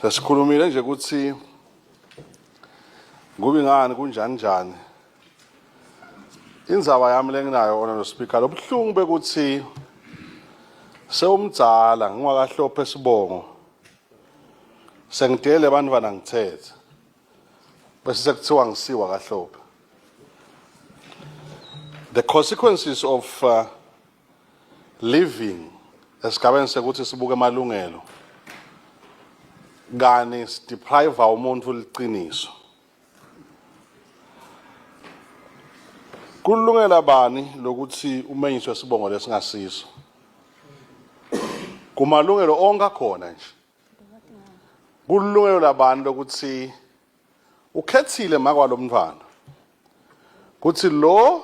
Sasikhulumile nje ukuthi ngoba ngani kunjani njani inzaba yami lenginayo ona no speaker lobuhlungu bekuthi sewumdzala ngingwakahlophe sibongo sengidele bantwana ngithethe bese sekuthiwa ngisiwa kahlophe the consequences of uh, Living esigabeni sekuthi sibuke amalungelo kani sideprive umuntu liqiniso kulungela bani lokuthi umenyiswe sibongo lesingasiso kumalungelo onke akhona nje kulungelo labantu lokuthi ukhethile makwalo mntwana kuthi lo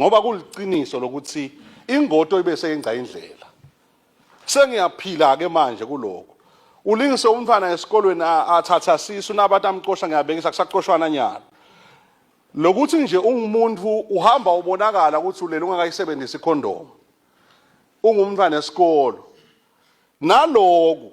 ngoba kuliqiniso lokuthi ingoto ibe seyingca indlela sengiyaphila-ke manje kuloko ulingise umntwana esikolweni athatha sisu nabantu amcosha ngiyabekisa kusacoshwana nyalo lokuthi nje ungumuntu uhamba ubonakala ukuthi ulele ungakayisebenzisi ikhondomu ungumntwana esikolo naloku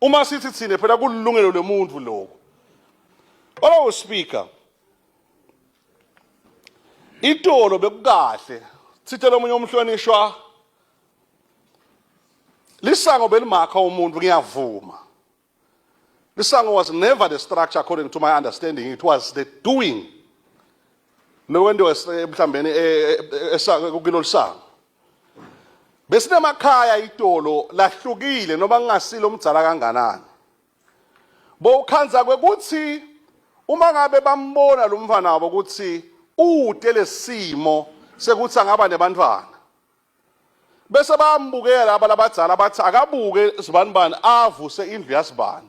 Uma sithi thina phela kulungelo lomuntu lokho. Olowo speaker itolo bekukahle sitshela omunye umhlonishwa lisango belimakha umuntu ngiyavuma lisango was never the structure according to my understanding it was the doing lokwentiwa mhlawumbeni eh, eh, eh, kulolu sango besinamakhaya itolo lahlukile noma kungasilo umdzala kanganani bowukhandza kwekutsi uma ngabe bambona lo mfana wabo ukuthi ute lesimo sekuthi angaba nebantfwana bese bayambukela laba labadzala bathi akabuke zibanibani avuse indlu yasibani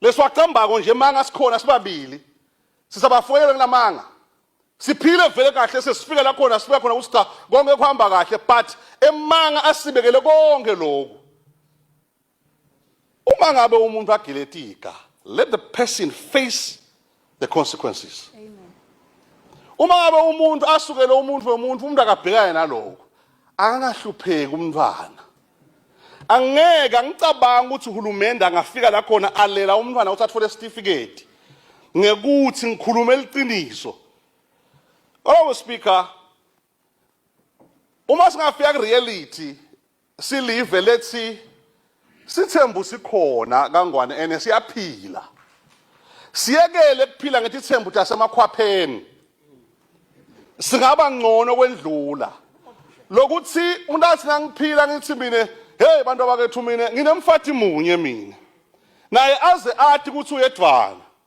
leswacambako nje manga sikhona sibabili sisabafoyela kunamanga siphile vele kahle sesifika la khona sifika khona ukuthi cha konke kuhamba kahle but emanga asibekele konke lokhu uma ngabe umuntu agiletiga let the person face the consequences uma ngabe umuntu asukele umuntu wemuntu umuntu akabhekane naloko akangahlupheki umntwana angeke angicabanga ukuthi uhulumende angafika la khona alela umntwana ukuthi athole isitifiketi ngekuthi ngikhulume liqiniso oh speaker Uma singafika kureality silive lethi sithembu sikhona kangwane ene siyaphila. Siyekele kuphila ngethi thembu tasemakhwapheni. Singaba ngcono kwendlula. Lokuthi umuntu athi ngangiphila ngithi mina hey bantu abakethu mina nginemfathi munye mina. Naye aze athi ukuthi uyedwana.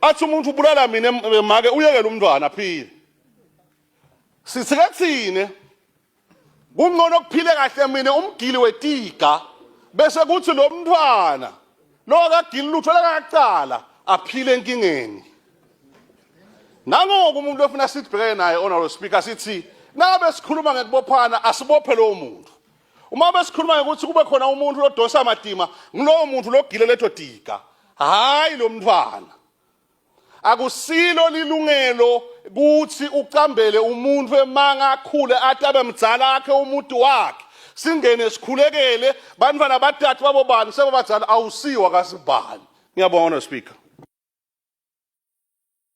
athi umuntu ubulala mina make uyekele umntwana aphile sithike thine kungcono kuphile kahle mina umgili wetiga bese kuthi lo mntwana lo akagili lutho lakacala aphile enkingeni nangoku umuntu ofuna sibheke naye honorable speaker sithi nabe sikhuluma ngekubophana asibophe lowo muntu uma besikhuluma ukuthi kube khona umuntu lodonsa amadima ngulowo muntu logile leto diga hayi lo mntwana akusilo lilungelo kuthi ucambele umuntu emanga akhule athi abe mdzala akhe umuntu wakhe singene sikhulekele bantwana bathathu babo bani sebabadzala awusiwa kasibani ngiyabonga no speaker